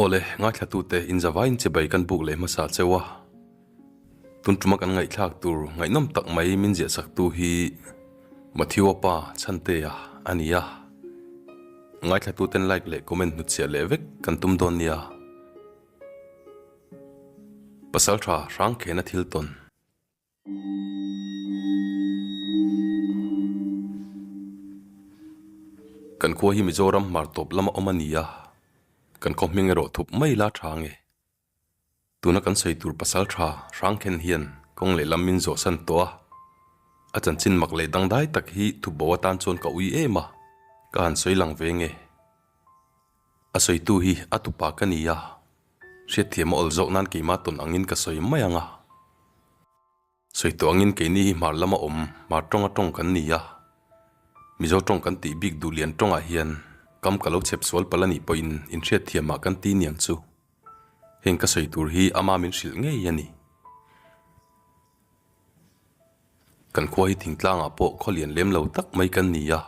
Awle, ngaihthlatute inzavaiin che bai kan buk leh hmasa cheu a, tun tuma kan ngaihthlak tur ngaihnawm tak mai min ziahsaktu hi Matthewa pa Chantea a ni a. Ngaihthlatuten like leh comment hnuchhiah leh vek kan tum dawn nia. Pasal tha hrang khen a thil tawn. Kan khua hi Mizoram hmartawp lama awm a ni a, kan khawhmeng erawh thup mai la tha nge. Tuna kan sawi tur pasal tha hrang khen hian kawng leh lam min zawhsan tawh a. A chanchin mak leh dangdai tak hi thup bo atan chuan ka ui em a, ka han sawi lang ve nge. A sawitu hi a tupa ka ni a, hriatthiam a awl zawk nan keimah tawn angin ka sawi mai ang a. Sawi tawh angin keini hi hmar lama awm hmar tawnga tawng kan ni a, Mizo tawng kan tih bik duh lian tawngah hian kam ka lo chep sual pal a nih pawhin inhriatthiamah kan ti niang chu. Heng ka sawi tur hi ama min hrilh ngei a ni. Kan khua hi thingtlangah pawh khawlian lem lo tak mai kan ni a,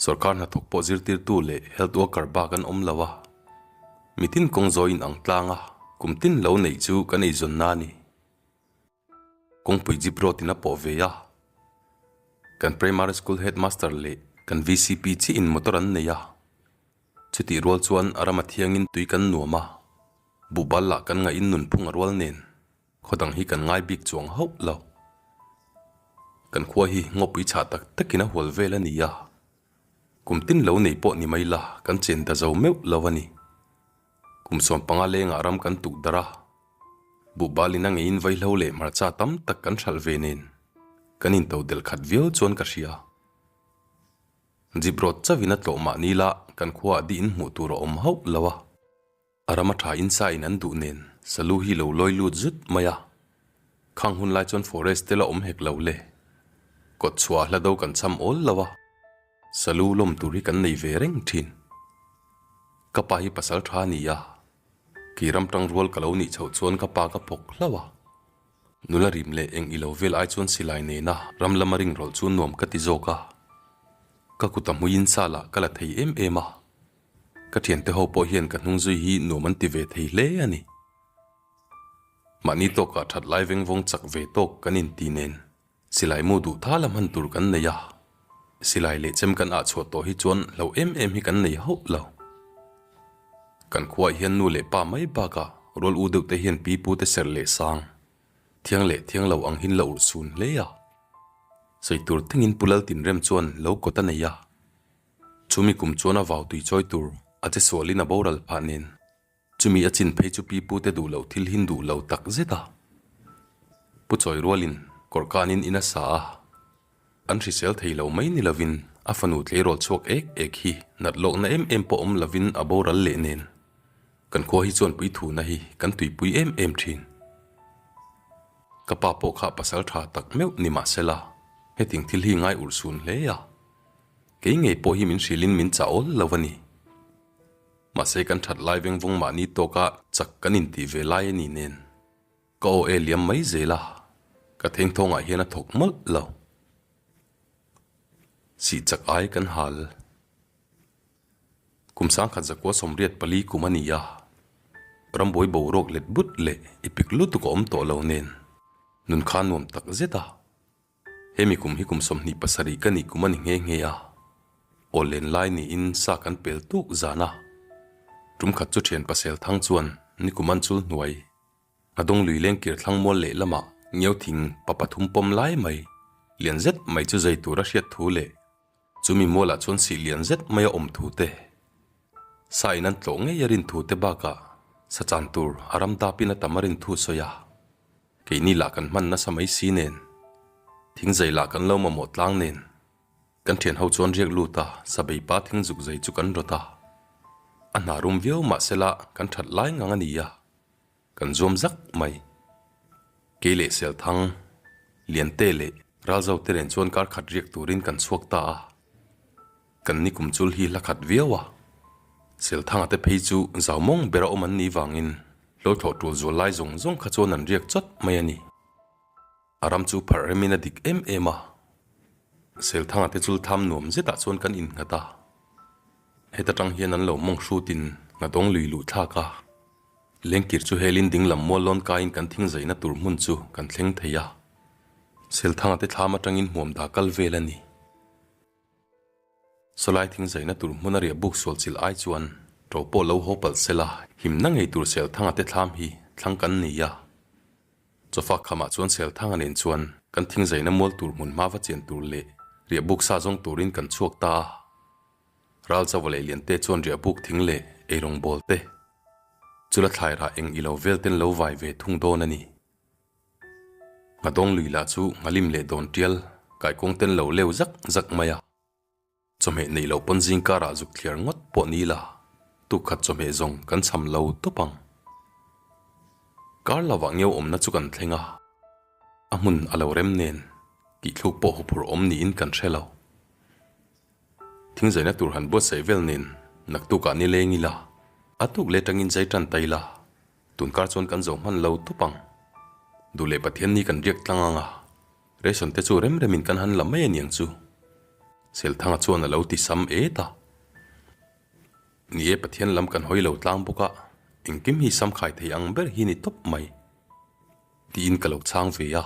sorkar hnathawk pawh zirtirtu leh health worker bak an awm lo a, mitin kawng zawi in ang tlang a kum tin lo neih chu kan eizawnna a ni. Kawngpui Jip Road in a pawh ve a, kan Primary School Headmaster leh kan VCP chi in motor an nei a, chutih rual chuan a ram a thiangin tui kan nuam a, buh bal lah kan ngahin nunphung a rual nen. Khawdang hi kan ngai bik chuang hauh lo. Kan khua hi ngawpui chhah tak takin a hual vel a ni a. Kum tin lo nei pawh ni mai la kan chen ta zo meuh lo a ni. Kum suan panga lengah ram kan tuh dar a. Buhbal in a ngeiin vaihlo leh hmarcha tam tak kan hralh ve nen kan in to del khat viau chuan ka hria. Jip rawt chauhin a tlawh mah nila kan khua ah dihin hmuh tur a awm hauh lo a. A ram a tha insa in an duh nen Salu hi lo lawi lut zut mai a, khang hun lai chuan forest te la awm hek lo le. Kawt chhuah a hla do kan cham awl lo a, Salu lawm tur hi kan nei ve reng thin. Ka pa hi pasal tha a ni a, kei ram tang rual ka lo nih chhoh chuan ka pa ka phawk hlau a, nula rim leh eng i lo vel ai chuan silai nena ram lama ring rawlh chu nuam ka ti zawk a, ka kut a hmui insa lah ka la thei em em a, Ka thiante ho pawh hian ka hnung zui hi nuam an ti ve thei hle a ni. Mahni tawkah that lai veng vawng chak ve tawk kan inti nen silai mu duh ta la hman tur kan nei a, silai leh chem kan ah chhuah tawh hi chuan hlo em em hi kan nei hauh lo. Kan khuaah hian nu leh pa mai bakah rual u deuhte hian pi pu te serh leh sang, thiang leh thiang lo ang hin la urh chhun hle a. Sawi tur tengin Pu Laltinrem chuan lo kawt a nei a, Chumi kum chuan a vau tui chawi tur a che sualin a boral phah nen. Chumi a chin phei chu pi pute duh loh thil hin duh lo tak zet a. Pu chawi rualin kawr kanin in a sa a. An hrisel thei lo mai ni lovin a fanu tleirawl chhuak ek ek hi nat lawkna em em pawh awm lovin a boral leh nen. Kan khua hi chuan puithuna hi kan tuipui em em thin. Ka pa pawh kha pasal tha tak meuh ni mahsela, heting thil hi ngai urh sun hle a, Kei ngei pawh hi min hrilhin min chah awl lo a ni. Mahse kan that lai veng vawng mahni tawka chak kan intih ve lai a nih nen. Ka aw e liam mai zel a, ka thengthawngah hian a thawk mawlh lo. Sih chak ai kan hal. Kum sangkhat zakua sawmriat pali kum a ni a, rambuai boruak let but leh ipik lutuk a awm tawh lo nen nun kha nuam tak zet a. Hemi kum hi kum sawmhnih pasarih ka nih kum a ni nghe nghe a, aw len lai niin sa kan pel tuk zan a. Tumkhat chu thian pasel thang chuan ni kum an chul hnuai, a dawng lui leng kir thlang mual leh lamah ngio thing pa pathum pawm lai mai, lian zet mai chu zei tur a hriat thu leh, Chu mi mualah chuan sih lian zet maia awm thu te, sain an tlawh ngeia rin thu te bakah sa chan tur a ram dapin a tam a rin thu sawi a, keini lah kan hman nasa mai si nen, thing zai lah kan lo mamawh tlang nen, kan thian ho chuan riak lut a sa bei pa thing zuk zai chu kan rawt a, a hna rum viau mahsela kan that lai ngang a nia. Kan zuam zak mai. Kei leh Selthang, Liante leh Ralzo te nen chuan kar khat riak turin kan chhuak ta a. Kan nikum chul hi hlakhat viau a. Selthanga te phei chu zau mawng ber a awm an nih vangin hlawhthlawh tul zual lai zawng zawng kha chuan an riak chawt mai a ni. A ram chu pharh remin a dik em em a. Selthanga te chul tham nuam zetah chuan kan innghat a, heta tang hian an lo mawng hrut in nghat awng lui luh thlak a. Lengkir chu helin ding lam mual lawn kaiin kan thing zaina tur hmun chu kan thleng thei a. Selthanga te thlam atangin hmuam da kal vel a ni. Salai thing zaina tur hmuna riah buk sual chilh ai chuan to pawh lo haw palh sela him na ngei tur Selthang a te thlam hi thlang kan nei a. Chawfak khamah chuan Selthanga nen chuan kan thing zaina mual tur hmun hma va chian tur leh riah buk sa zawng turin kan chhuak ta a. Ral chauva leh lian te chuan riah buk thing leh eirawng bawl te chula thlai rah eng ilo vel ten lo vai ve thung dawn a ni. Nghadawng lui lah chu nghalim leh dawn tial kaikawng ten lo leu zak zak mai a, chawhmeh neih loh pawn zing karah zuk thliar ngawt pawh ni la, tu khat chawhmeh zawng kan chham lo tawp ang. Kar lovah ngeu awmna chu kan thleng a, a hmun a lo rem nen kihthluk pawh huphur awm niin kan hre lo. Thingzaina tur han buatsaih vel nen naktukah ni leng ila, a tuk leh tangin zai tan ta ila Tun kar chuan kan zo hman lo tawp ang. Duh leh Pathian ni kan riak tlang ang a, ration te chu rem remin kan han la mai aniang chu. Selthanga chuan a lo ti sam et a, Ni e Pathian lam kan hawi lo tlang bawk a, engkim hi samkhai thei ang ber hi ni tawp mai. Tiin ka lo chhang ve a.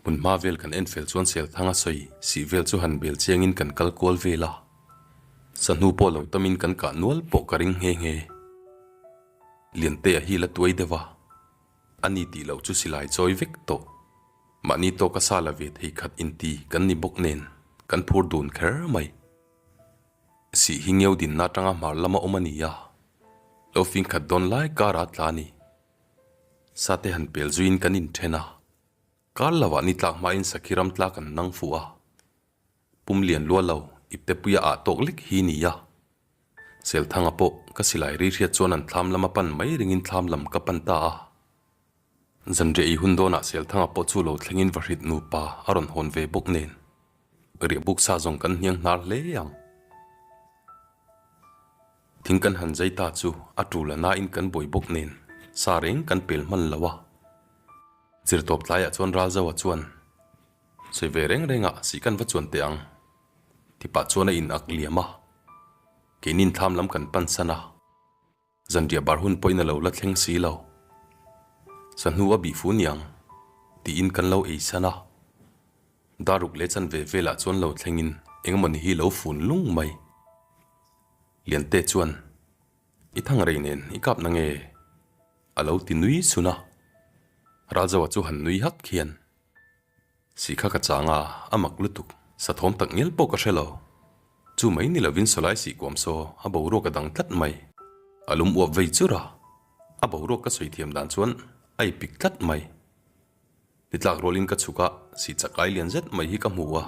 Hmun hma vel kan en fel chuan Selthang a sawi sih vel chu han bel chiangin kan kal kual vel a. Sahnu pawh lo tamin kan kah nual pawh ka ring nghe nghe. Liantea hi la tuai deuh a, a ni tih loh chu silai chawi vek tawh. Mahni tawh ka sa la ve thei khat inti kan ni bawk nen kan phur dun kher mai. Sih hi ngeudinna atanga hmar lama awm a ni a, lo fingkhat dawn lai kara tla ni. Sa te han pel zuiin kan inthen a, kar lo ah ni tlak hma in sakhi ram tlak an nang fuh a, pum lian lual lo i pepuia ah tawk lek hi ni a, Selthanga pawh ka silai rihriat chuan an thlam lam a pan mai ring in thlam lam ka pan ta a, zanriah i hun dawn ah Selthanga pawh chu lo thleng in vahrit nupa a rawn hawn ve bawk nen Ka riah buk sa zawng kan hniang hnar hle ang. Thing kan han zai ta chu a tul a na in kan bawi bawk nen sa reng kan pel hman lo a. Zirtawp tlai ah chuan Ralzo a chuan, Sawi ve reng reng ah sih kan va chuan teh ang. Tipah chuan a in ak liam a. Keinin thlam lam kan pan san a. Zanriah bar hun pawhin a lo la thleng si lo. Sahnu a bih fu niang, tiin kan lo ei san a. Daruk leh chanve velah chuan lo thlengin engemawni hi lo fun lung mai. Liante chuan, I thangrei nen i kapna nge? a lo ti nui sun a. Ralzoa chu han nui hak hian, Si kha ka chang a, a mak lutuk. Sathawm tak ngial pawh ka hre lo. Chu mai ni lovin saw lai si kuam saw a boruak a dang tlat mai. A lum uap vei chur a, a boruak ka sawi thiam dan chuan a i pik tlat mai. Ni tlak rualin ka chhuk a, si chak ai lian zet mai hi ka hmu a,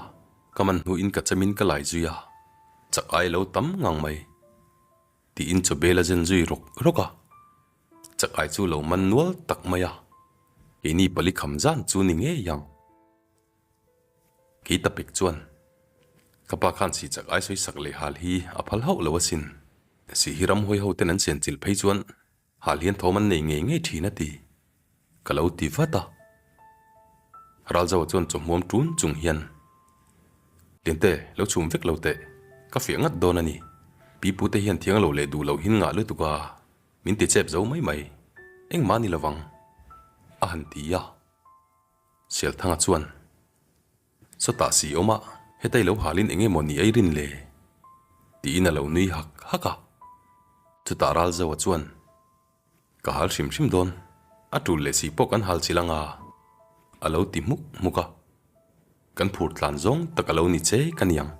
ka man hnuin ka chemin ka lai zui a, chak ai lo tam ngang mai. Tiin chawbela zen zui rawk rawk a, Chakai chu lo man nual tak mai a, Keini pali kham zan chu ni ngei ang. Kei ta pek chuan, Ka pa khan si Chakai sawi sak leh hal hi a phal hauh lo asin. Si hi ramhawi hoten an sian chilh phei chuan Hal hian thawm an nei ngei ngei thin a ti. Ka lo ti vat a. Ralzau a chuan chawhmuam tun chung hian, Tinte, lo chhum vek lo teh, ka fiah ngat dawn a ni. Pipu te hian thiang a lo leh duh lohin ngah lutuk a, min ti chep zo mai mai. Engmah ni lovang. A han ti a. Sialthanga chuan. Sawtah si awm a, heta i lo halin eng emaw ni airin le? tiin a lo nui hak hak a. Chutah Ral Zoa chuan, Ka hal hrim hrim dawn, a tul leh si pawh kan hal chilh anga, a lo ti hmuk hmuk a. Kan phur tlan zawng tak a lo ni che ka niang.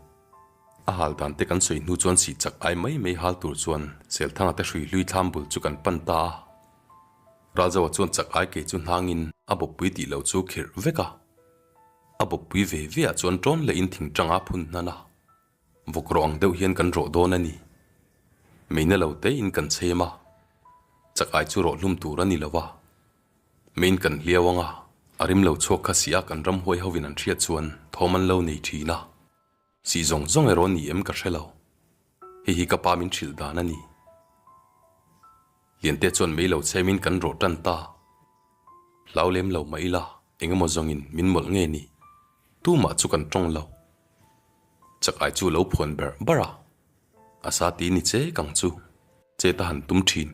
A hal dan te kan sawi hnu chuan si chak ai mai mai hal tur chuan Selthanga te hrui hlui thlam bul chu kan pan ta a. Ral Zoa chuan chak ai ke chu hnangin a bawpui tih lo chu khirh vek a. A bawkpui ve ve ah chuan tawn leh in thing tanga phun hna la, vawk rawh ang deuh hian kan rawh dawn a ni. Meina lo te in kan chhem a, chak ai chu rawh hlum tur a ni lo a. Main kan hliau anga, a rim lo chhuak kha si a kan ramhuai ho in an hriat chuan thawm an lo nei thin a. Sih zawng zawng ero ni em ka hrelo, hei hi ka pa min hrilh dan a ni. Liante chuan mei lo che min kan rawh tan ta, hlau lem lo mah ila eng emaw zawngin min mawlh nge ni, tumah chu kan tawng lo. Chak ai chu lo phuan ber ber a, a sa ti ni che kang chu chet a han tum thin,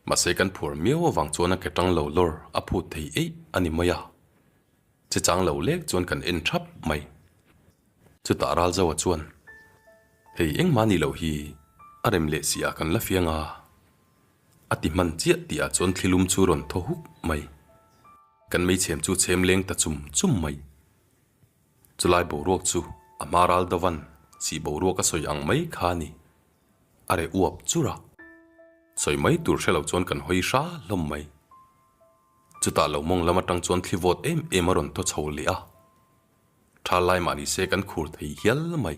mahse kan phuar miau avang chuan a ke tang lo lawr a phut thei eih a ni mai a. Che chang lo lek chuan kan en thap mai. Chutah Ralzoa chuan, Hei engmah nih loh hi a rem leh si a kan la fiang a, a ti hman chiah tihah chuan thlilum chu rawn thaw huk mai. Kan meichhem chu chhem leng ta chum chum mai. Chulai boruak chu a hma ral dovan chih boruak a sawi ang mai kha ni. A re uap chur a. Sawi mai tur hrelo chuan kan hawi hra hlawm mai. Chutah lo mawng lam atang chuan thli vote em em a rawn thaw chho leh a, tha lai mah ni se kan khur thei hial mai.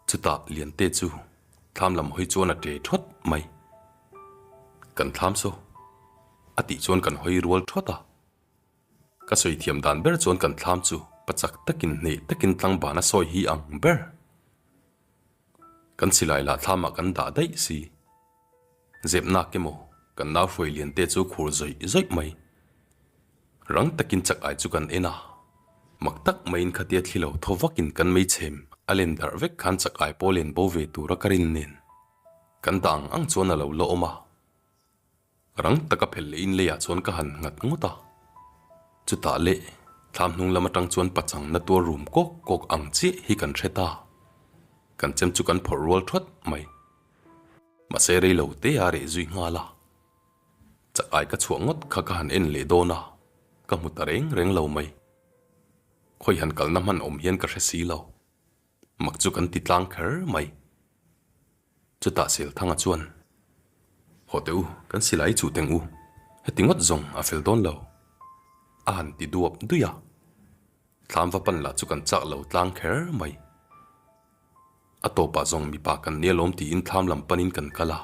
Chutah Liante chu thlam lam hawi chuan a tle thawt mai. Kan thlam saw a tih chuan kan hawi rual thawt a. Ka sawi thiam dan ber chuan kan thlam chu pa chak takin hneh takin tlangban a sawi hi ang ber. Kan silai lah thlamah kan dah daih si. Zepnak emaw kan lau hruai lian te chu khur zawih zawih mai. Rang takin chak ai chu kan en a, mak tak maiin khatia thli lo tho vakin kan meichhem a len darh vek khan chak ai pawh len bo ve tura ka rin nen. Kan dah ang ang chuan a lo la awm a, Rang taka phelh leh in leiah chuan ka han nghat ngawt a. Chutah leh thla hnung lam atang chuan pachang na tuar rum kawk kawk ang chiah hi kan hre ta. Kan chem chu kan phawrh rual thawt mai. Mahse rei lo te a reh zui nghal a. Chak ai ka chhuah ngawt kha ka han en leh dawn a, ka hmu ta reng reng lo mai. Khawi han kalna hman awm hian ka hre si lo. Mak chu kan ti tlang kher mai. Chutah Selthanga chuan, Haw teh u, kan si lai chu teng u, heti ngawt zawng a fel dawn lo, a han ti duap duih a, Thlâmva pan lah chu kan châk lo tlâng kher mai, a tawpah zawng mipa kan ni alawm tiin thlâm lam panin kan kal a,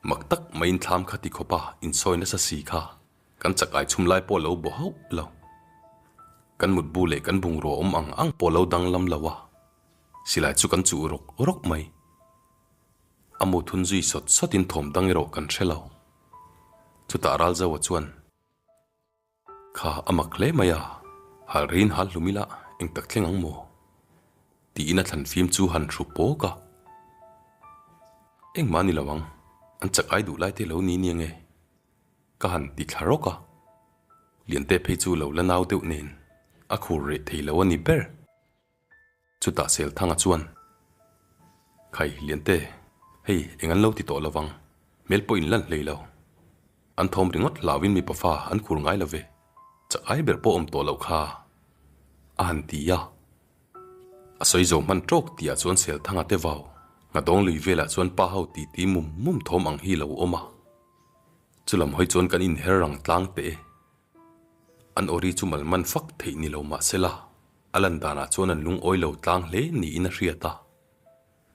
mak tak maiin thlâm kha ti khawpa insawi nasa si kha kan chakai chhum lai pawh lo bo hauh lo, kan mutbu leh kan bungrua awm ang ang pawh lo danglam lo a. Silai chu kan chuh rawk rawk mai. A muthun zui sawt sawt in thawm dang erawh kan hre lo. Chutah Ralzaua chuan. Kha a mak hle mai a, hal rin hal hlum ila eng tak thleng ang maw? tiin a thlan fim chu han hru pawk a. Engmah ni lo ang, an chak ai duh lai te lo ni nia nge? ka han ti thla rawk a. Liante phei chu lo la nau deuh nen a khur reh thei lo a ni ber. Chutah Selthanga chuan, Khai, Liante, hei eng an lo ti tawh lo vang, hmel pawh in lal hlei lo. An thawm ringawt hlau in mipa fa an khur ngai lo ve, chakai ber pawh awm tawh loh kha, a han ti a. A sawi zo hman tawk tihah chuan Selthanga te vau Nghadawng lui velah chuan pa ho ti ti mum mum thawm ang hi lo awm a. Chu lam hawi chuan kan inher rang tlang teh e. An awri chu malman fak theih ni lo mah se la, A lan danah chuan an lungawi lo tlang hle niin a hriat a,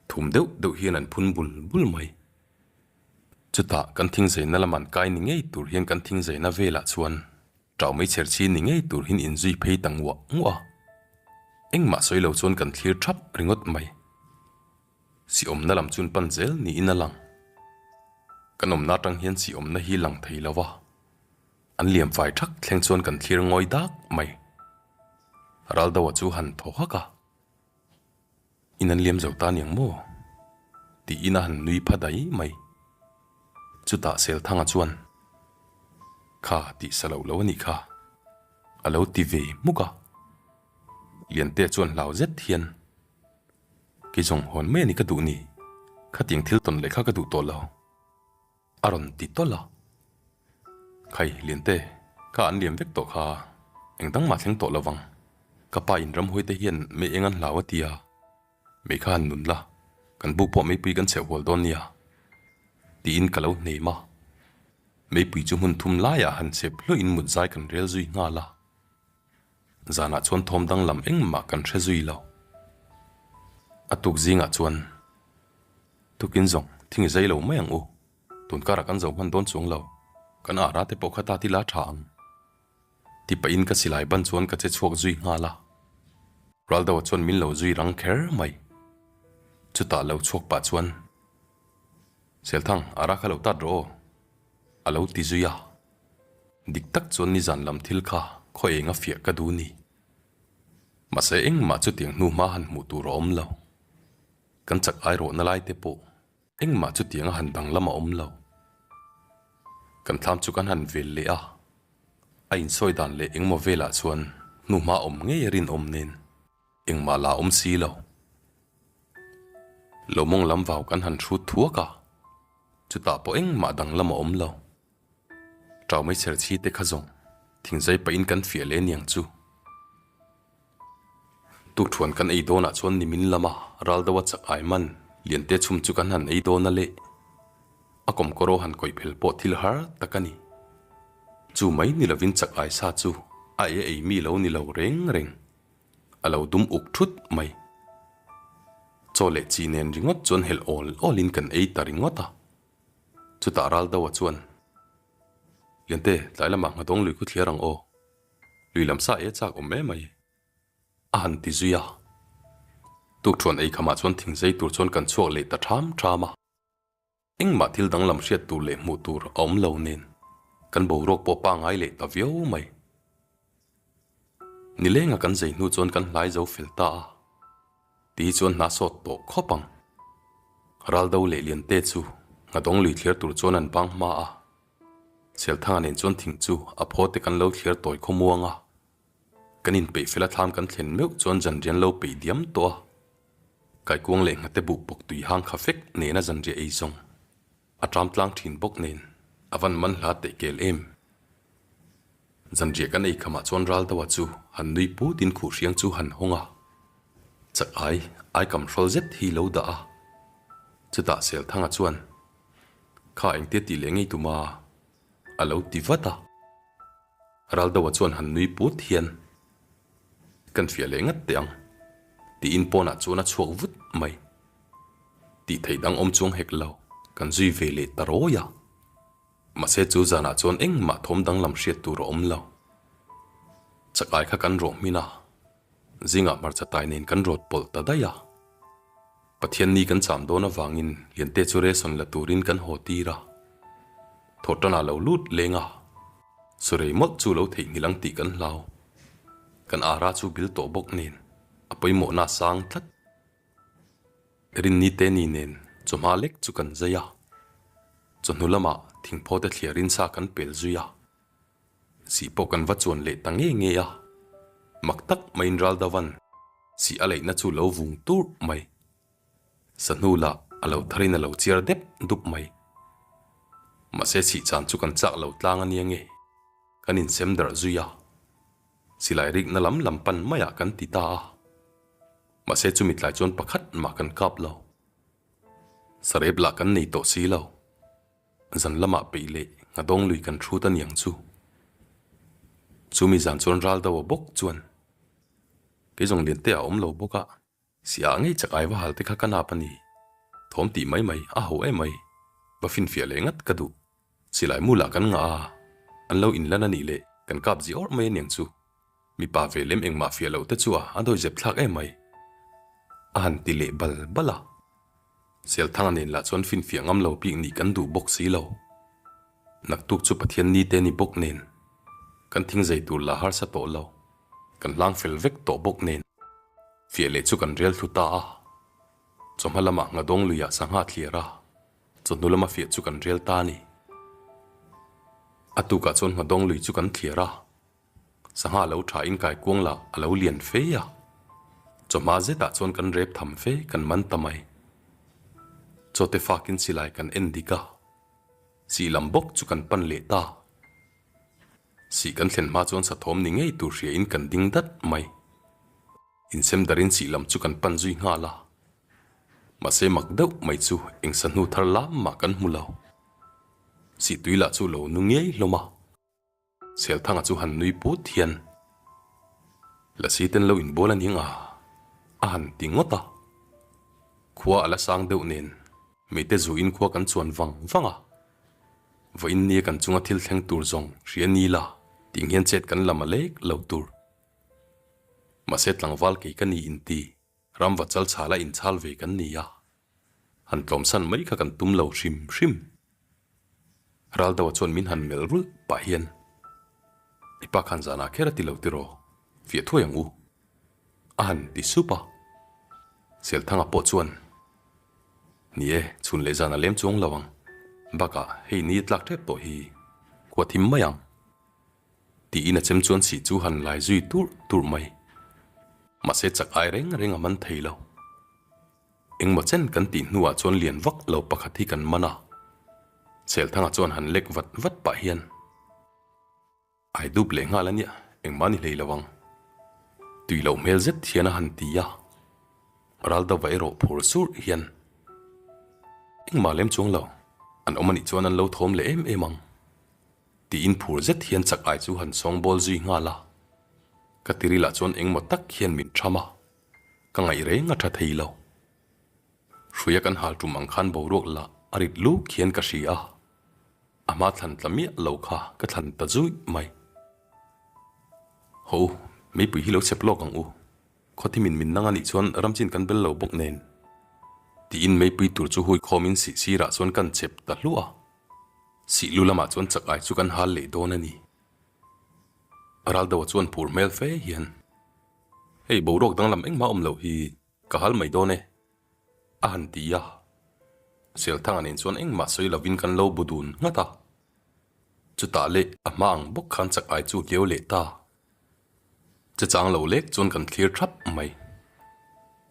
thum deuh deuh hian an phun bul bul mai. Chutah kan thing zaina lam an kai ni ngei tur hian kan thing zaina velah chuan tau mai chher chhin ni ngei tur hian in zui phei ta nguah nguah a, engmah sawi lo chuan kan thlir thap ringawt mai. Siawmna lam chun pan zel niin a lang. Kan awmna atang hian siawmna hi lang thei lo a, An liam fai thak thleng chuan kan thlir ngawi dak mai. Raldoa chu han thaw hak a, I nan liam zo ta niang maw? tiin a han nui pha dai mai. Chutah Selthanga chuan, Kha tih sa loh lo a nih kha, a lo ti ve muk a. Liante chuan hlau zet hian, Kei zawng hawn mai a ni ka duh ni, khatiang thil tawn leh kha ka duh tawh lo. A rawn ti tawlh a, Khai, Linte, kha an liam vek tawh kha, engdang mah thleng tawh lovang, ka pa in Ramhuaite hian mei eng an hlau a tia, mei kha an nun la, kan bu pawh meipui kan chheh hual dawn nia, tiin ka lo hneim a, meipui chu hmun thum laiah han chep hluain mutzai kan rel zui nghal a, Zanah chuan thawm danglam engmah kan hre zui lo. A tuk zingah chuan tukin zawng thing i zai lo mai ang u. Tun karah kan zohman dawn chuang lo. Kan ara te pawh kha ta ti la tha ang. Ti pahin ka silai ban chuan ka che chhuak zui nghal a. Raldoa chuan min lo zui rang kher mai. Chutah lo chhuak pah chuan, Selthang, ara kha lo tat rawh aw. A lo ti zui a, dik tak chuan nizan lam thil kha khaw eng a fiah ka duh ni. Mahse engmah chutiang hnuhma han hmuh tur a awm lo. Kan chak airawhna lai te pawh engmah chutiang a han danglam a awm lo. Kan thlam chu kan han vel leh a, a insawi dan leh engmaw velah chuan hnuhma awm ngei a rinawm nen. Engmah la awm si lo. Lawmawng lam vau kan han hrut thuak a, chutah pawh engmah danglam a awm lo. Traumei serchhi te kha zawng thingzai pahin kan fiah leh niang chu. Tukṭhuan kan ei dawnah chuan nimin lama ral deuha chak ai man liante chhum chu kan han ei dawn a le, a kawmkawraw han kawih phel pawh thil har tak a ni. Chu mai ni lovin chak ai sa chu a ei a ei mi lo ni lo reng reng. a lo dum uk thut mai. Chaw leh chi nen ringawt chuan helh awl awl in kan ei ta ringawt a. Chutah Ral Dawah chuan, Liante, tlai lamah nghadawng lui khaw thliar ang aw, lui lam sa e chak awm e mai a han ti zui a. Tukṭhuan ei khamah chuan thingzei tur chuan kan chhuak leh ta ṭham ṭham a. Engmah thil danglam hriat tur leh hmuh tur a awm lo nen kan boruak pawh pangai leh ta viau mai. Nilenga kan zei hnu chuan kan hlai zo fel ta a, tih hi chuan hna sawt tawh khawp ang. Raldo leh Liante chu Nghadawng lui thlir tur chuan an bang hma a, Chelthanga nen chuan thing chu a phawte kan lo thlir tawi khawmuang a, Kan inpeih fel a thlam kan thlen meuh chuan zanrian lo peih diam tawh a, kaikuang leh nghate buh pawk tui hang kha fek nena zanria ei zawng a ṭam tlang ṭhin bawk nen a van man hla teh kel em. Zanria kan ei khamah chuan ral deuha chu han nui put in khuh hriang chu han hawng a, chak ai ai kam hrawlh zet hi lo dah a, chutah Selthanga chuan, Kha engtia tih leh ngei tuma. a lo ti vat a, Raldoa chuan han nui put hian kan fiah leh ngat teh ang tiin pawnah chuan a chhuak vut mai. Tih theih dang awm chuang hek lo kan zui ve leh ta rawi a, mahse chu zanah chuan engmah thawm danglam hriat tur a awm lo. Chakai kha kan rawh hmin a, zingah hmarcha tai nen kan rawt pawlh ta daih a. Pathian ni kan cham dawn avangin Liante chu reson la turin kan haw tir a, thawh tana lo lut leng a, sawi rei mawlh chu lo theihnghilh ang tih kan hlau. Kan ara chu bil tawh bawk nen a pawimawhna a sang tlat. Rinnite ni nen chawhma lek chu kan zai a, chawhnu lamah thingphawte thliar in sa kan pel zui a. Sih pawh kan va chuan leh ta ngei ngei a, mak tak maiin ral deuh an sih a leihna chu lo vung turh mai. Sahnu lah a lo tharin a lo chiar dep dup mai. Mahse sih chan chu kan chak lo tlang ania nge kan insem darh zui a, silai rikna lam lam pan maiah kan ti ta a, mahse chumi tlai chuan pakhat mah kan kap lo. Sarep lah kan nei tawh si lo. Zan lamah peih leh nghadawng lui kan hrut a niang chu chu mi zan chuan ral deuh a bawk chuan kei zawng lian te a awm lo bawk a si ah ngei chak aiva halte kha ka nap a ni thawm tih mai mai a ho emai va finfiah leh ngat ka duh silai mu lah kan ngah a an lo in lan a nih leh kan kap ziawrh mai a niang chu. Mipa ve lem engmah fiah loh te chu a a dawihzep thlak em mai a han ti leh bal bal a. Sialthanga nen lah chuan finfiah ngam lo bik nih kan duh bawk si lo. Naktuk chu Pathian ni te ni bawk nen, kan thing zei tur lah harsa tawh lo, kan hlang fel vek tawh bawk nen, fiah leh chu kan rel thlu ta a. Chawhma lama Nghadawng luiah sangha a thliar a, chawhnu lama fiah chu kan rel ta a ni. A tukah chuan Nghadawng lui chu kan thliar a, Sangha lo tha in kaikuang lah a lo lian fei a, chawhma zetah chuan kan rep tham fe kan man ta mai. Chawte fak in silai kan en dik a, sih lam bawk chu kan pan leh ta. Sih kan thlen hma chuan sathawm ni ngei tur hria in kan ding dat mai. Insem dar in sih lam chu kan pan zui nghal a, mahse mak deuh mai chu eng sahnu thar lam mah kan hmu lo. Sih tui lah chu lo nu ngei hlawm a. Selthanga chu han nui put hian, Lasite'n lo inbual a ning a, a han ti ngawt a. Khua a la sang deuh nen mite zuin khua kan chuan vang vang a. Vawiin nia kan chunga thil thleng tur zawng hria ni la, tih nghian chet kan la ma lek lo tur. Mahse tlangval kei ka ni inti. Ram vat chal chhal a in chhal ve kan ni a, han tlawm san mai kha kan tum lo hrim hrim. Ral deuh a chuan min han melh rulh pah hian I pa khan zanah kher a ti lo tiraw, fiah thuai ang u, a han ti sup a. Selthanga pawh chuan, Ni e, chhun leh zan a lem chuang lo ang, bakah hei ni a tlak tep tawh hi khuathim mai ang, Tiin a chem chuan sih chu han ngai zui turh turh mai. Mahse chak ai reng reng a man thei lo. Engmaw chen kan tih hnuah chuan lian vak lo pakhat hi kan man a. Chelthanga chuan han lek vat vat pah hian, Ai dup leh nghal a nia, engmah ni hlei lo ang. Tui loh hmel zet hian a han ti a. Ral dova erawh phur surh hian, Engmah lem chuang lo, an awm a nih chuan an lo thawm leh em em ang. Tiin phur zet hian chak ai chu han sawngbawl zui nghal a, ka ti rilah chuan engmaw tak hian min ṭham a, ka ngaih reng a ṭha thei lo. Hruia kan hal ṭum ang khan boruak lah a rit lûk hian ka hria a, a hma thlan tla miah lo kha ka thlan ta zuih mai. Haw u, meipui hi lo chep lawk ang u. Khawthim in min nanga nih chuan ram chin kan bel lo bawk nen? tiin meipui tur chu hui khawm in sih sirah chuan kan chep ta hluah a, sih lu lamah chuan chak ai chu kan hal leh dawn a ni. A ral deuh a chuan phur hmel fe hian, Hei, boruak danglam engmah awm loh hi ka hal mai dawn e, a han ti a, Selthanga nen chuan engmah sawi lovin kan lo bu dun nghat a, chutah leh a hma ang bawk khan chak ai chu viau leh ta Che chang lo lek chuan kan thlir thap mai.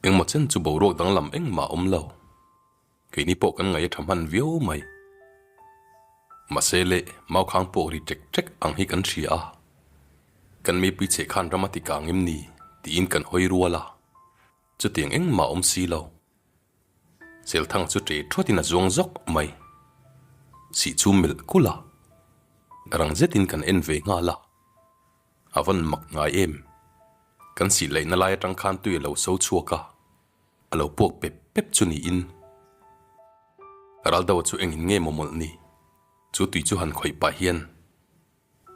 Engmaw chen chu boruak danglam engmah awm lo. Keini pawh kan ngaih a tha hman viau mai. Mahsele, Maukhang pawh ri ṭek ṭek ang hi kan hria a, kan meipui cheh khan ram a tikang em ni? tiin kan hawi rual a. Chutiang engmah awm si lo, Chelthang chu ṭe ṭhuat in a zuang zawk mai. Sih chu melh kul a, rang zet in kan en ve nghal a, a van mak ngai em. Kan sih laih na lai a ṭang khan tui a lo so chhuak a, a lo puak pep pep chu ni in. Raldo chu eng in nge mawmawlh ni, chu tui chu han khawih pah hian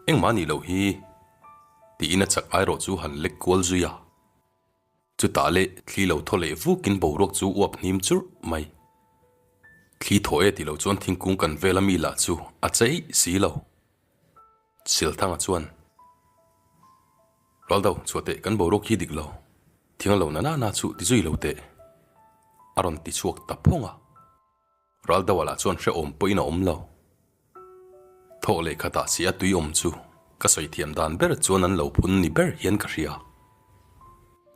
engmah a nih loh hi ti in a chak ai rawh chu han lek kual zui a. Chutah leh thli lo thaw leh vukin boruak chu uap hnim churh mai. Thli thaw e tih loh chuan thingkung kan vela mi lah chu a chei si lo. Silthanga chuan, Rual do, chhuah teh kan boruak hi dik lo, thing a lo na nana chu ti zui lo teh, a rawn ti chhuak ta phawng a. Ral deuh alah chuan hrehawm pawhin a awm lo. Thawh leh khatah si a tuiawm chu ka sawi thiam dan ber chuan an lo phun ni ber hian ka hria.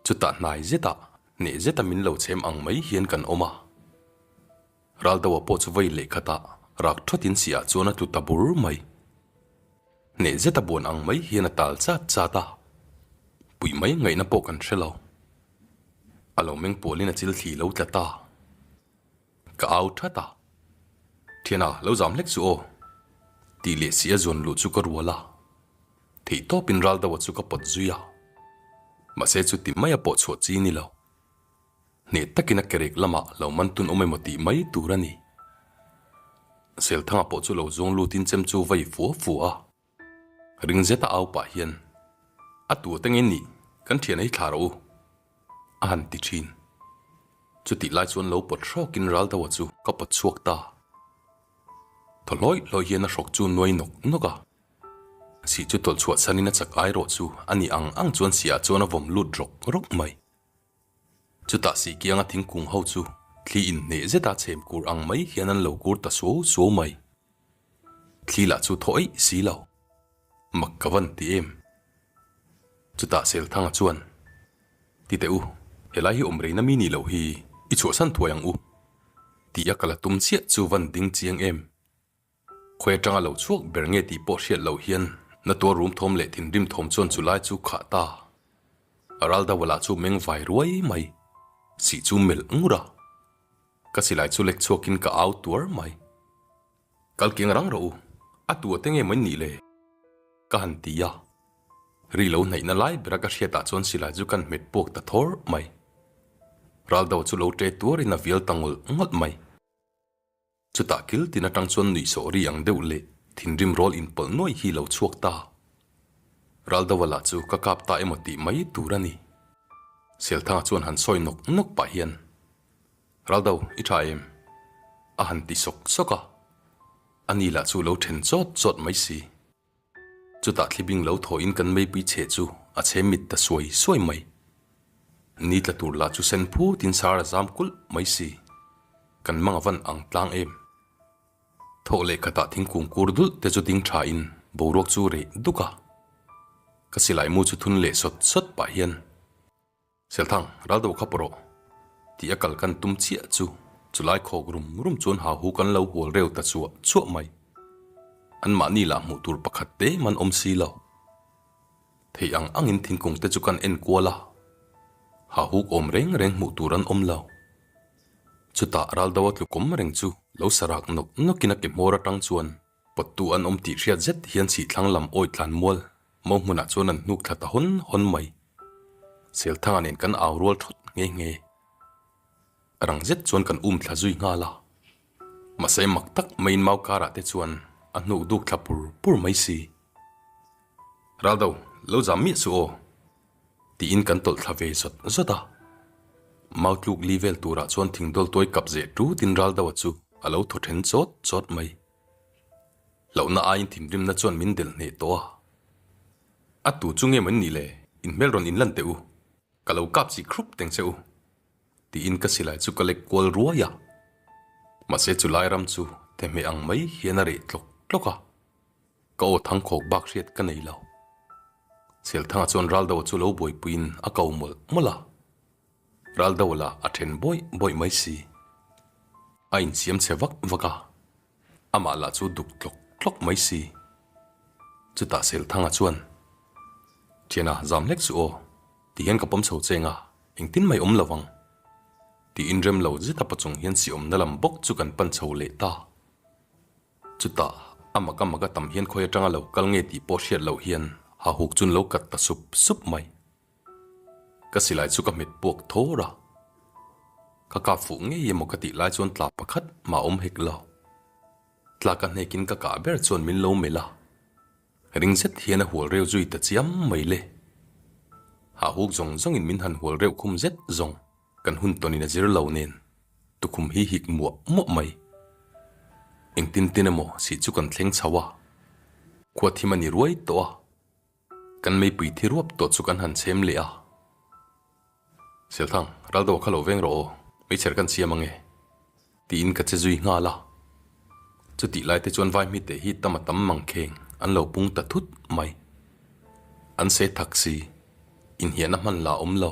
Chutah hnai zetah neh zeta min lo chhem ang mai hian kan awm a. Ral deuha pawh chu vei leh khatah rak ṭhawtin si ah chuan a tlu ta bur mai. Neh zeta buan ang mai hian a tal chat chat a. Puih mai ngaihna pawh kan hre lo. A lo meng pualin a chil thli lo tlat a. Ka au that a, Thiana lo zam hlek chu aw, tih leh si a zawn luh chu ka rual a, theih tawp in ral deuha chu ka pawt zui a, mahse chu ti mai a pawh chhuah chi ni lo, hneh tak in a kerek lam ah lo man tun awm emaw tih mai tur a ni. Selthanga pawh chu lo zawng lut in chem chu vei fua fua a. Ring zeta au pah hian, A tu teng in nih kan thian ei thla rawh u, a han ti thin. Chutih lai chuan lo pawt hrawk in ral deuha chu ka pawt chhuak ta. Thaw hlawih hlawih hian a hrawk chu nuai nawk nawk a. Sih chu tawlh chhuah chhan in a chak ai rawh chu a ni ang ang chuan sihah chuan a vawm lut rawk rawk mai. Chutah sih kianga thingkung ho chu thli in hneh zeta chhem kur ang mai hian an lo kur ta suau suau mai. Thli lah chu thaw eih si lo. Mak ka van ti em? Chutah Selthanga chuan, Ti teh u, he lai hi awm rei na mi nih loh hi i chhuahsan thuai ang u. Ti a ka la tum chiah chu van ding chiang em? Khawi atanga lo chhuak ber nge tih pawh hriat loh hian na tuar rum thawm leh thinrim thawm chuan chu lai chu khah ta. A ral deuh alah chu meng vai ruai mai. Sih chu melh ngur a. Ka silai chu lek chhuak in ka au tuar mai. Kal keng rang rawh u, a tu a te nge mawin nih le? Ka han ti a. Ri lo hnaih na lai bera ka hriat ah chuan silai chu kan hmet puak ta thawr mai. Ral deuh chu lo ṭe tuar in a vial ta ngawlh ngawlh mai. Chutah kiltin atang chuan nuih sawhri ang deuh leh thinrim rawl inpawlh nuai hi lo chhuak ta. Ral do alah chu ka kap ta emaw tih mai tur a ni. Selthanga chuan han sawi nawk nawk pah hian, Ral do, i tha em? a han ti sawk sawk a. Ani lah chu lo then chawt chawt mai si. Chutah thlibing lo thawhin kan meipui che chu a chhe mit ta suai suai mai. Ni tla tur lah chu sen phut in sar a zam kulh mai si. Kan mang a van ang tlang em. Thawh leh khatah thingkung kur dulh te chu ding tha in boruak chu reh duk a. Ka silai mu chu thun leh sawt sawt pah hian. Selthang, ral deuh khawp rawh. Tih a kal kan tum chiah chu chulai khawk rum rum chuan hahu kan lo hual reu ta chuah chuah mai. Anmahni lah hmuh tur pakhat te man awm si lo. Thei ang angin thingkung te chu kan en kual a, hahuk awm reng reng hmuh tur an awm lo. Chutah ral deuha tlukum reng chu lo sa rak nawk nawkin a ke hmawr atang chuan Pawttu an awm tih hriat zet hian Sihthlang lam awi tlan mual mo hmunah chuan an hnuk thla ta hawn hawn mai. Selthanga nen kan au rual thawt nghe nghe. A rang zet chuan kan um thla zui nghal a. Mahse mak tak maiin mau karah te chuan a hnuk duk thla pur pur mai si. Raldo, lo zam miah suh aw. Tiin kan tawlh thla ve zawt zawt a. Mau tluk li vel turah chuan thing dawl tuai kap zeh ṭu tin ral deuha chu a lo thaw ṭhen chawt chawt mai. Lohna aiin thinrimna chuan min del hneh tawh a. A tu chu nge mawni nih le, in hmel rawn inlan teh u, ka lo kap chih khrup teng che u. Tiin ka silai chu ka lek kual ruai a. Mahse chu Lairam chu thehmeh ang mai hian a reh tlawk tlawk a. Ka aw thang khawk bak hriat ka nei lo. Chelthanga chuan Raldo chu lo buaipuiin a kau mawlh mawlh a. Raldo la a then bawih bawih mai si. A insiam chhe vak vak a. Amah la chu duk tlawk tlawk mai si. Chutah Chelthanga chuan, Thiana, zam hlek chu aw ti hian ka pawm chho cheng a, engtin mai awm lo ang. Tiin remlo zeta paw chung hian siamna lam bawk chu kan pan chho leh ta. Chutah a mak a mak a tam hian khawi atanga lo kal ngei tih pawh hriat loh hian a huk chu'n lo kat ta sup sup mai. Ka silai chu ka hmet puak thawr a, ka kap fuh ngei emaw ka tih lai chuan tla pakhat mah awm hek lo. Tla ka hnekin ka kah ber chuan min lo melh a, ring zet hian a hual reu zui ta chiam mai le. A huk zawng zawngin min han hual reuh khum zet zawng. Kan hun tawn in a zir lo nen tukhum hi hik muah muah mai. Eng tin tin emaw si chu kan thleng chho a, khua thim a ni ruai tawh a, kan meipui thi ruap tawh chu kan han chhem leh a. Selthang, ral deuh a kha lo veng rawh aw, meichher kan siam ange? tiin ka che zui nghal a. Chutih lai te chuan vai hmite hi tam a tam mangkheng an lo pung ta thut mai. An se thak si, inhiahna hman la awm lo.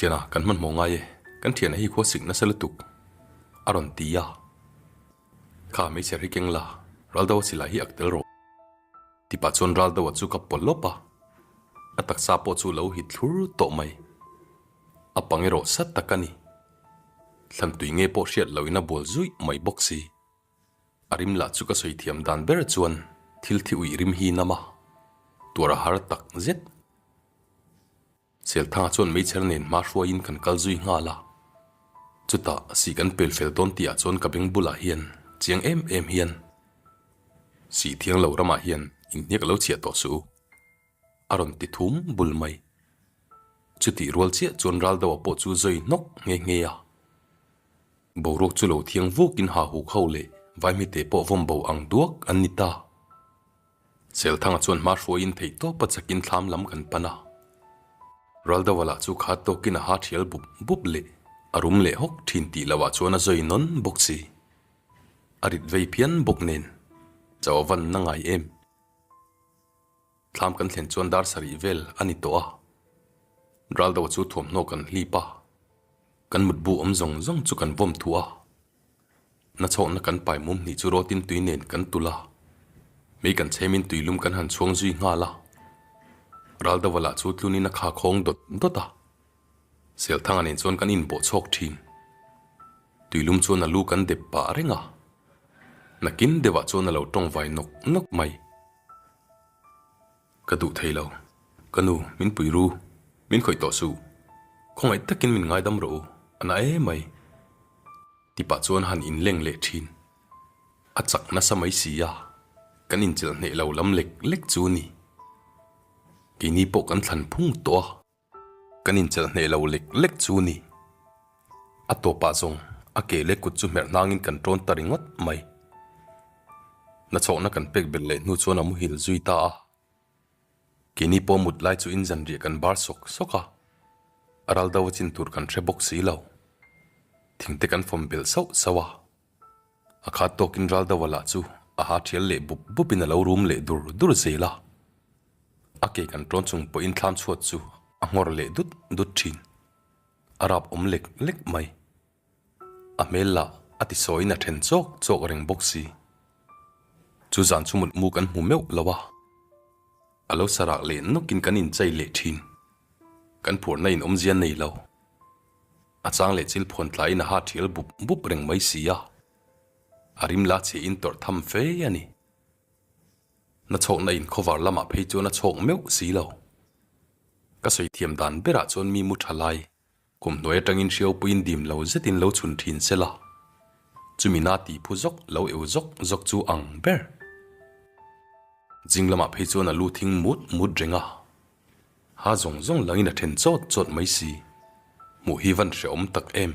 Thiana, kan hmanhmawh ngai e, kan thiana hi khua sik nasa lutuk a rawn ti a, kha hmeichher hi keng la, ral deuh a si lai hi ak tel rawh. Ti pah chuan ral deuh a chu ka pawlh lawp a, a taksa pawh chu lo hit thlur tawh mai, a pang erawh sat tak a ni, thlan tui nge pawh hriat loin a bual zuih mai bawk si. A rim lah chu ka sawi thiam dan ber chuan thil thi uih rim hi nam a, tuara har tak zet. Chelthanga chuan Hmeichher nen hma hruaiin kan kal zui nghal a, chuta sih kan pel fel dawn tihah chuan ka beng bulah hian chiang em em hian Sihthiang lo ramah hian inhniak a lo chhiah tawh suh u a rawn ti thum bul mai. Chutih rual chiah chuan ral deuhah pawh chu zawi hnawk nghe nghe a, boruak chu lo thiang vukin Hahuk ho leh Vaimite pawh vawmbo ang duak an ni ta. Chelthanga chuan hma hruaiin theih tawp a chakin thlam lam kan pan a. Raldawa lah chu khat tawkin a ha thial bup bup leh a rum leh hawk thin tih loh ah chuan a zawi nawn bawk si. A rit vei phian bawk nen chaw van na ngai em. Thlam kan thlen chuan dar sarih vel a ni tawh a. Raldawa chu thuamhnaw kan hlip a, kan mutbu awm zawng zawng chu kan vawm thu a. Nachhawkna kan pai mum hnih chu rawtin tui nen kan tul a, mei kan chhemin tui lum kan han chhuang zui nghal a. Ralda Vala chu tlunin a kha khawng dawt dawt a, Selthanga nen chuan kan inbawh chhawk thin. Tui lum chuan a lu kan dep pah reng a, nakin deuhah chuan a lo tawngvai nawk nawk mai. Ka duh thei lo. Ka nu, min pui ru. Min khawih tawh suh. Khawngaih takin min ngaidam rawh u. A na e mai. Tipah chuan han inleng leh thin. A chak nasa mai si a, kan inchelh hneh lo lam lek lek chu ni. Keini pawh kan thlan phung tawh a. Kan inchelh hneh lo lek lek chu ni. A tawpah zawng a ke leh kut chu hmerh hnangin kan tawn ta ringawt mai. Nachhawkna kan pek belh leh hnu chuan a muhil zui ta a. Keini pawh mut lai chu in zanriah kan bar sawk sawk a. A ral do a chin tur kan hre bawk si lo. Thingte kan fawm belh sauh sauh a. A khat tawkin ral deuh a lah chu a ha thial leh bup bupin a lo rum leh dur dur zel a. A ke kan ṭawn chung pawhin thlan chhuat chu a nghawr leh dut dut ṭhin. A rap awm lek lek mai. A hmel lah a ti sawiin a ṭhen chawk chawk a reng bawk si. Chu zan chu mutmu kan hmu meuh lo a. A lo sa rak leh nawkin kan inchei leh ṭhin. Kan phurhna in awm zia nei lo. A chang leh chil phuan tlaiin a ha ṭhial bup bup reng mai si a, a rim la chiahin tawrh tham fe a ni. Na chhawkna in khawvar lamah phei chuan a chhawk meuh si lo. Ka sawi thiam dan berah chuan mi mu ṭha lai kum hnuai aṭangin hriaupuiin dim lo zetin lo chhun ṭhin se la, chumi na ti phu zawk lo eu zawk zawk chu ang ber. Zing lamah phei chuan a lu thing mut mut reng a. A zawng zawng langin a then chawt chawt mai si. Hmuh hi van hre awm tak em.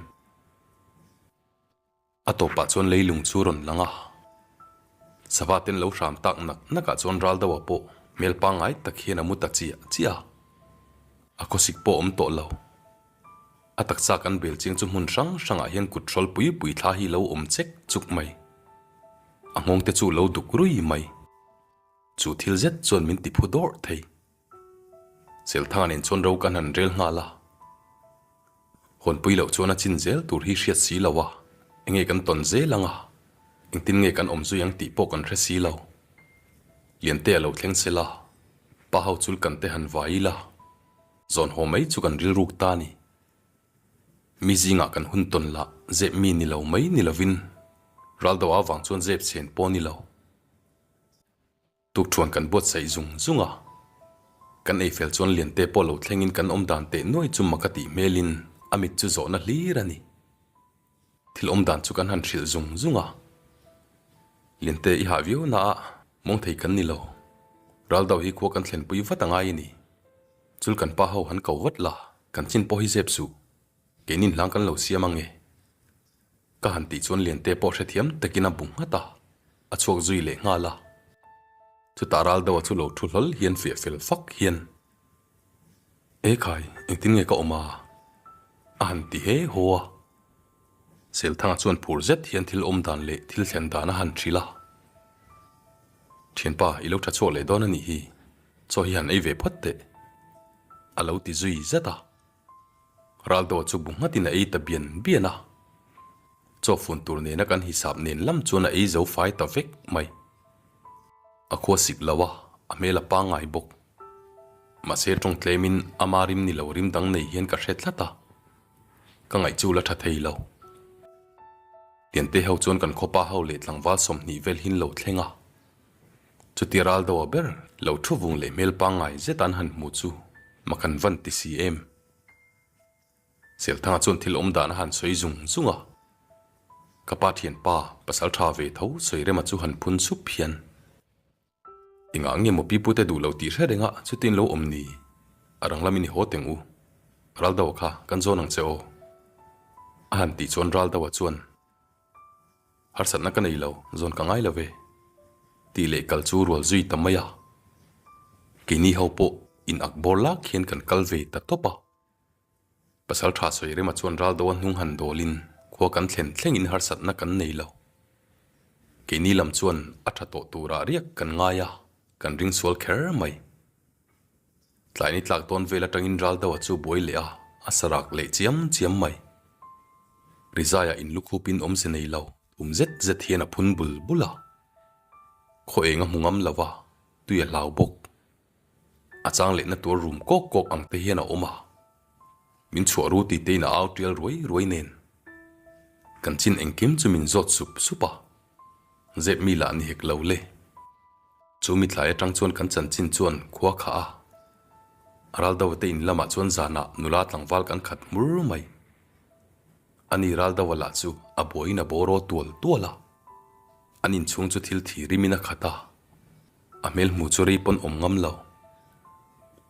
A tawpah chuan leilung chu rawn lang a. Sava ten lo hram tak nak nakah chuan ral deuhah pawh hmel pangngai tak hian a mu ta chiah chiah. A khawsik pawh awm tawh lo. A taksa kan bel chiang chu hmun hrang hrangah hian kut hrawl pui pui thla hi lo awm chek chuk mai. A nghawngte chu lo duk rui mai. Chu thil zet chuan min ti phu dawrh thei. Chelthan in chuan ro kan han rel nghal a. Hawnpui loh chuan a chin zel tur hi hriat si lo a, enge kan tawn zel ang a, engtin nge kan awm zui ang tih pawh kan hre si lo. Liante a lo thleng sel a, pa ho chul kan te han vai ila, zawn haw mai chu kan rilruk ta ni. Mi zingah kan hun tawn lah zep mi ni lo mai ni lovin, ral deuh avang chuan zep chhen pawh ni lo. Tukṭhuan kan buatsaih zung zung a, kan ei fel chuan Liante pawh lo thlengin kan awm dan teh nuai chu Maka tih hmelin a mit chu zawhna hlir a ni. Thil awm dan chu kan han hrilh zung zung a. Liante i hah viau naah mawng thei kan ni lo. Ral deuh hi khua kan thlen pui vat a ngai a ni. Chul kan pa ho han ko vat la, kan chin pawh hi zep suh, keinin hlang kan lo siam ang e. Ka han tih chuan Liante pawh hrethiam takin a bu nghat a, a chhuak zui leh nghal a. Chutah Raldo-a chu lo thu hlawl hian fiah fel fak hian, E khai, engtin nge ka awm a? a han ti he haw a. Selthanga chuan phur zet hian thil awm dan leh thil thlen dan a han hrilh a, Thianpa, i lo tha chhuak leh dawn a nih hi, chaw hi han ei ve phawt teh, a lo ti zui zet a. Raldaw chu bu nghat in a ei ta bian bian a, chaw fun tur nena kan hisap nen lam chuan a ei zo fai ta vek mai. A khua sik lo a, a hmel a pangngai bawk. Mahse tawng tlem in ama rim ni lo rim dang nei hian ka hre tlat a, ka ngaih chu la tha thei lo. Tiante ho chuan kan khawpa ho leh tlangval sawmhnih vel hin lo thleng a, Chuti ral deuha ber lo thu vung leh hmel pangngai zeta an han hmu chu ma kan van ti si em? Chelthanga chuan thil awm dan a han sawi zung zung a, ka pa thian pa pasal tha ve tho sawi rema chu han phun sup hian engah nge Mopi pute duh lo tih hre renga chutin lo awm ni? A rang lam i ni haw teng u, ral deuha kha kan zawn ang che aw a han tih chuan ral deuha chuan. Harsatna ka nei lo, zawn ka ngai lo ve. Tih leh kal chu rual zui ta mai a, keini ho pawh in ak bawr lak hian kan kal ve ta tawp a. Pasal tha sawi rema chuan ral do a hnung han dawlin khua kan thlen thlengin harsatna kan nei lo. Keini lam chuan a tha tawh turah riak kan ngai a, kan ring sual kher mai. Tlaini tlak dawn vel atangin ral deuha chu buai leh a, a sa rak leh chiam chiam mai. Rizaiah in lukhupin awm si nei lo thum zet zet hian a phun bul bul a. Khaw eng a hmu ngam lo a, tui a hlau bawk. A chang lehna tur rum kawk kawk ang te hian a awm a. Min chhuah ru tite in a au tial ruai ruai nen. Kan chin engkim chu min zawt sup sup a, zep mi lah ni hek lo le. Chu mithlai atang chuan kan chanchin chuan khua kha a. Araldo te in lamah chuan zanah nula tlangval kan khat hmur mai. A ni ral deuh a lah chu a buaiin a boraw tual tual a. An inchhung chu thil thi rimin a khat a. A hmel hmu chu rei pawn awm ngam lo.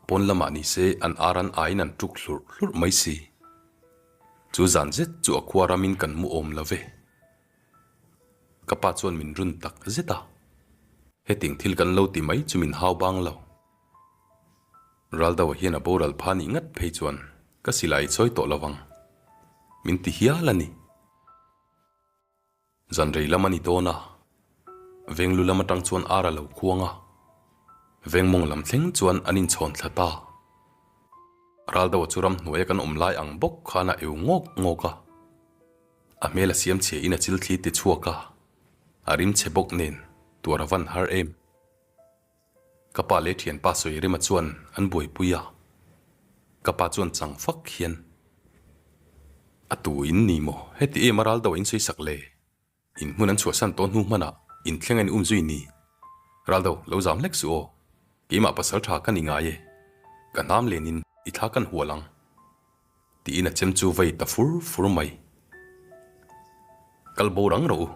Pawn lamah ni se an ar an aiin an tuk hlurh hlurh mai si. Chu zan zet chu a khua ramin kan mu awm love. Ka pa chuan min run tak zet a. Hetiang thil kan lo ti mai chu min hau bang lo. Ral deuhah hian a boral pha nih ngat phei chuan ka silai i chawi tawh lovang. Min ti hial a ni. Zanrei lam a ni dawn a, Venglu lam atang chuan ar a lo khuang a, Vengmawng lam thleng chuan an inchhawn thla ta. Ral deuha chu ram hnuaia kan awm lai ang bawk khan a eu ngawk ngawk a. A hmel a siam chhiain a chil thlir ti chhuak a, a rim che bawk nen tuar a van har em. Ka pa leh thianpa Sawirima chuan an buaipui a, ka pa chuan chang fak hian a tu in ni maw heti em a ral deuh a insawi sak le, in hmun an chhuahsan tawh hnu hmanah in thlenga in um zui ni, ral deuh lo zam hlek suh aw, keimah pasal tha kan ingai e, ka hnam len in i thla kan hual ang tiin a chem chu vei ta fur fur mai, kal bo rang rawh u,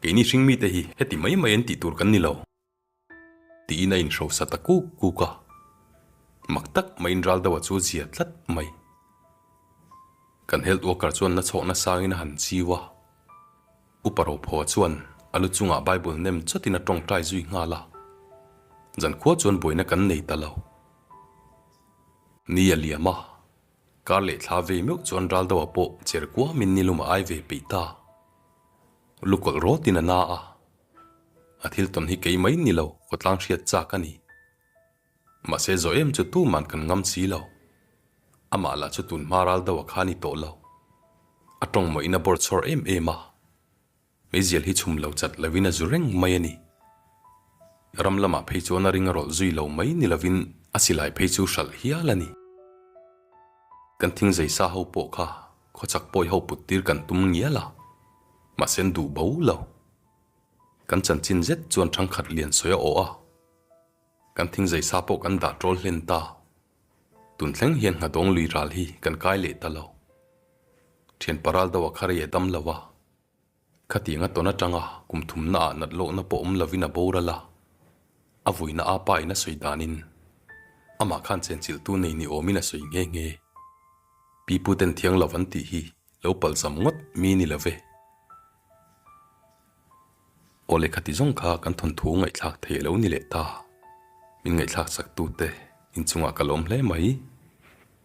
keini hring mite hi heti mai mai an tih tur kan ni lo. Tiin a inhrosa ta kuk kuk a, mak tak mahin ral deuha chu a zia tlat mai. Kan health worker chuan la chhawk nasangin a han chiu a, upa rophaw chuan a lu chungah Bible nem chawtin a tawngtai zui nghal a, zankhua chuan buaina kan nei ta lo. Ni a liam a, kar leh thla vei meuh chuan ral deuha pawh cher kuamin nilum a ai ve peih ta. Lu kawlh rawtin a na a. A thil tawn hi kei mai ni lo, khawtlang hriat chak a ni. Mahse zawh em chu tu man kan ngam si lo. Amah lah chu tun hma ral deuh a kha ni tawh lo. A tawng mawina bawr chhawr em em a. Meizial hi chhum lo chat lovin a zu reng mai a ni. Ram lamah phei chuan a ring a rawlh zui lo mai ni lovin a silai phei chu hralh hial a ni. Kan thingzai sa ho pawh kha Khawchak pawi ho puttir kan tum ngial a, mahse duh bo lo. Kan chanchin zet chuan thangkhat lian sawi a awh a, kan thing zai sa pawh kan dah tawl hlen ta. Tun thleng hian nghadawng lui ral hi kan kai leh ta lo. Thianpa ral deuh a kha rei a dam lo a. Khating a tawn atanga kum thumna ah nat lawhna pawh awm lovin a boral a, a vuina a pa in a sawi danin amah khan chenchilhtu nei ni awmin a sawi nghe nghe. Pipu ten thiang lo an tih hi lo palhzam ngawt mi ni love. Aw lehkha ti zawng kha kan thawnthu ngaihthlak thei lo ni leh ta, min ngaihthlak chak tu te inchungah ka lawm hle mai,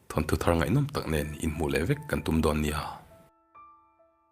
thawnthu thar ngaihnawm tak nen inhmuh leh vek kan tum dawn nia.